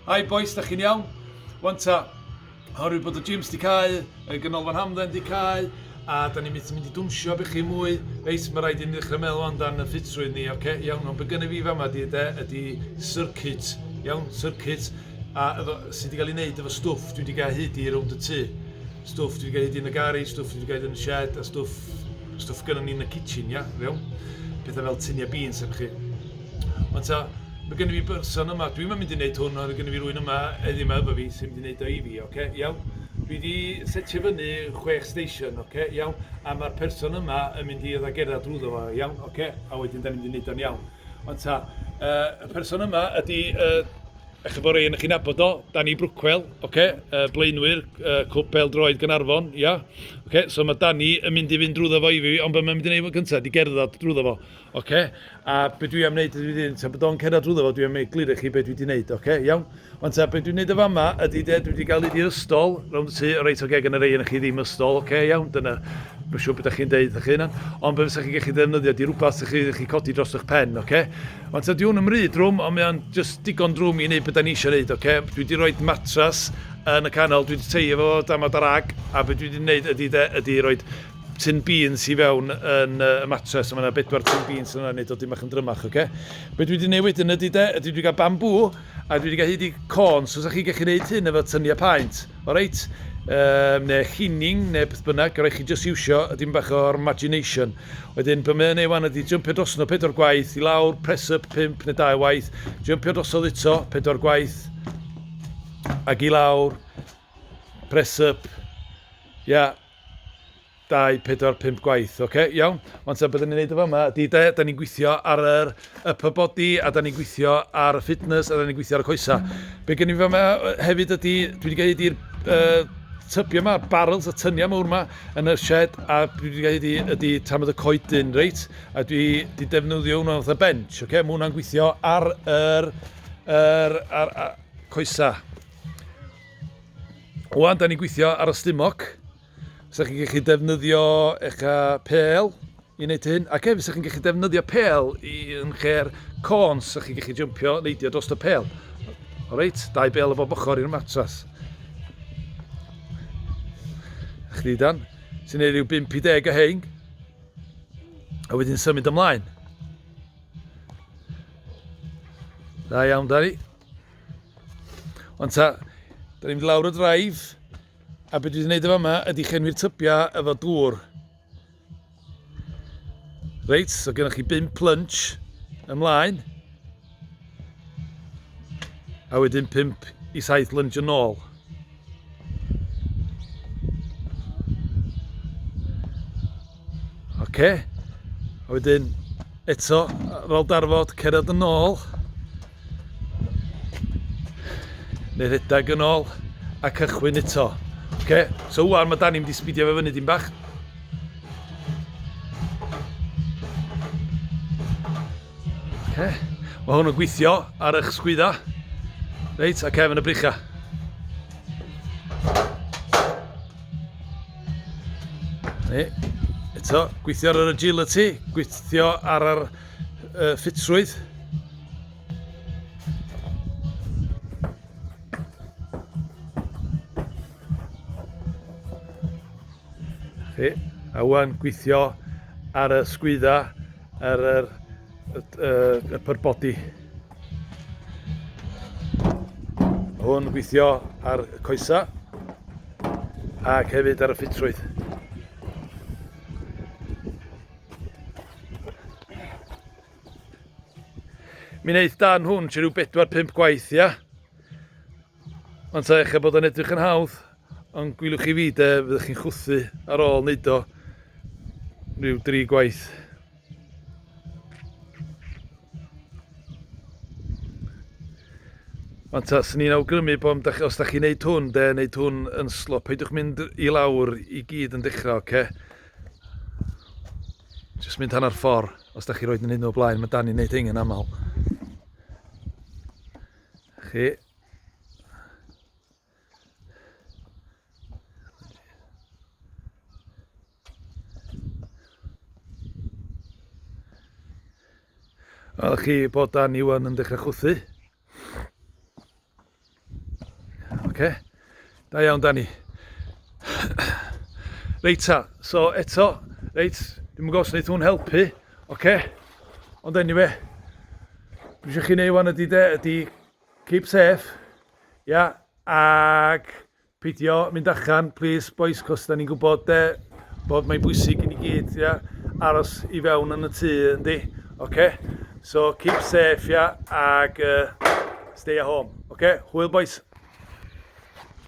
Hi bois, da chi'n iawn? Wan ta, oherwydd bod y gyms di cau, y ganolfan hamdden di cau, a da ni'n mynd mynd i dwnsio bych chi mwy, reit, mae rhaid i ni ddechrau meddwl ond dan y ffitrwydd ni, oce, okay, iawn, ond be gynnu fi fama di, de, ydi circuit, iawn, circuit, a efo, sydd wedi cael ei wneud efo stwff dwi wedi cael hyd i rownd y tŷ. Stwff dwi wedi cael hyd i yn y gari, stwff dwi wedi cael hyd yn y shed, a stwff, stwff gynnu ni yn y kitchen, ia, iawn? Pethau fel tunia beans, efo chi. Ond ta, mae gen i fi berson yma, dwi'm yn mynd i wneud hwn, ond gen i fi rywun yma heddiw yma efo fi sy'n mynd i wneud o i fi, oce, iawn? Dwi wedi setio fyny chwech station, oce, iawn? A mae'r person yma yn mynd i ddagera drwyddo fo, iawn, oce? A wedyn da ni'n mynd i wneud o'n iawn. Ond ta, uh, y person yma ydy uh, a chi bod rei yn eich nabod o, Danny Brookwell, okay, uh, blaenwyr, uh, cwp pel droed Gynarfon, ia. Yeah. Okay, so mae Danny yn mynd i fynd drwyddo fo i fi, ond beth mae'n mynd i wneud fo cyntaf, di gerdded drwyddo fo. Ocê, a be dwi am wneud ydw i wedi dweud, tra bod o'n cerdded drwyddo fo, dwi am wneud glir i chi be dwi wedi wneud, ocê, iawn? Wan ta, be dwi'n wneud yn fama ydy de, dwi wedi cael un i'r ystol, rownd y tŷ, reit ocê, gan y rhai ohonoch chi ddim ystol, ocê, iawn, dyna, mae'n siŵr beth da chi'n deud o'ch hunan, ond be fysa chi'n gallu ddefnyddio ydy rhywbeth sy'ch chi'n gallu codi dros eich pen, ocê? Wan ta, dwi hwn yn mryd drwm, ond mae o'n just digon drwm i wneud beth da ni eisiau wneud, ocê? Dwi wedi rhoi matras yn y canol, dwi wedi teio fo dama darag, a be dwi wedi wneud ydy de, ydy rhoi tin beans i fewn yn y matres, a mae yna bedwar tin beans yna, neu dod dim bach yn drymach, oce? Okay? Be dwi wedi newid wedyn ydy de, ydy dwi wedi cael bambŵ, a dwi wedi cael hyd i corn, so sa'ch chi'n gallu gwneud hyn efo tyniau paent, o reit? Um, neu chining, neu beth bynnag, rhaid chi just iwsio dim bach o'r imagination. Wedyn, be mae'n ei wan ydy jumpio dros nhw pedwar gwaith, i lawr, press up, pimp neu dau waith, jumpio drosodd eto, pedwar gwaith, ac i lawr, press up, ia, yeah, 2, 4, 5 gwaith. Ocê, iawn. Wan ta, be dan ni'n neud yn fama ydi de, dan ni'n gwithio ar yr upper body a dan ni'n gwithio ar y fitness a dan ni'n gwithio ar y coesau. Be gen i fi fama yy, hefyd ydi, dwi 'di gael hyd i'r yy tybiau 'ma, barrels y tyniau mawr 'ma yn y shed a dwi 'di gael hyd i ydi tamad y coedyn reit a dwi 'di defnyddio hwnna fatha bench ocê, ma' hwnna'n gweithio ar yr yr ar a coesau. Wan, da ni'n gweithio ar y stumog. Fysa chi'n gallu defnyddio eich pêl i wneud hyn. Ac hefyd, fysa chi'n gallu defnyddio pêl i, yn lle'r côn, fysa chi'n gallu jympio neidio dros y pêl. O reit, dau bêl o bob ochr i'r matras. Chdi dan, sy'n ei ryw 50 o hein. A wedyn symud ymlaen. Da iawn, Dani. Ond ta, da ni'n mynd lawr y draif, a beth dwi wedi gwneud efo yma ydy chenwi'r tybiau efo dŵr. Reit, so gennych chi 5 plunch ymlaen, a wedyn 5 i 7 lunch yn ôl. Oce, a wedyn eto ar ôl darfod, cerdded yn ôl, Neu redag yn ôl a cychwyn eto. Ok, so wan mae Dani mynd i sbidio fe fyny dim bach. Ok, mae hwn yn gweithio ar eich sgwydda. Reit, a cefn y bricha. Neu, eto, gweithio ar yr agility, gweithio ar yr uh, ffitrwydd. Chi, a wan gweithio ar y sgwydda ar y, y, y, y pyrbodi. Hwn gweithio ar y coesa ac hefyd ar y ffitrwydd. Mi'n eith dan hwn, ti rhyw 4-5 gwaith, ia? Ond ta eich bod yn edrych yn hawdd, ond gwylwch chi fi de, fyddwch chi'n chwthu ar ôl wneud o rhyw 3 gwaith. Ond ta, sy'n ni'n awgrymu bod os da chi'n neud hwn, de, neud hwn yn slop, peidiwch mynd i lawr i gyd yn dechrau, oce? Okay? Just mynd hanner ffordd, os da chi roed yn hyn o blaen, mae Danny'n neud hyn yn aml. Chi. Wel, chi bod Danny wan yn dechrau chwthu. Oce, okay. da iawn Dani. Reit ta, so eto, reit, dim yn gos wneud hwn helpu, oce? Okay. Ond anyway, beth eisiau chi wneud wan ydy de, ydy keep safe, ia, yeah, ac Peidio mynd allan plîs bois cos dan ni'n gwybod de bod mae'n bwysig i ni gyd ia aros i fewn yn y tŷ yndi oce so keep safe ia ac uh, stay at home oce hwyl bois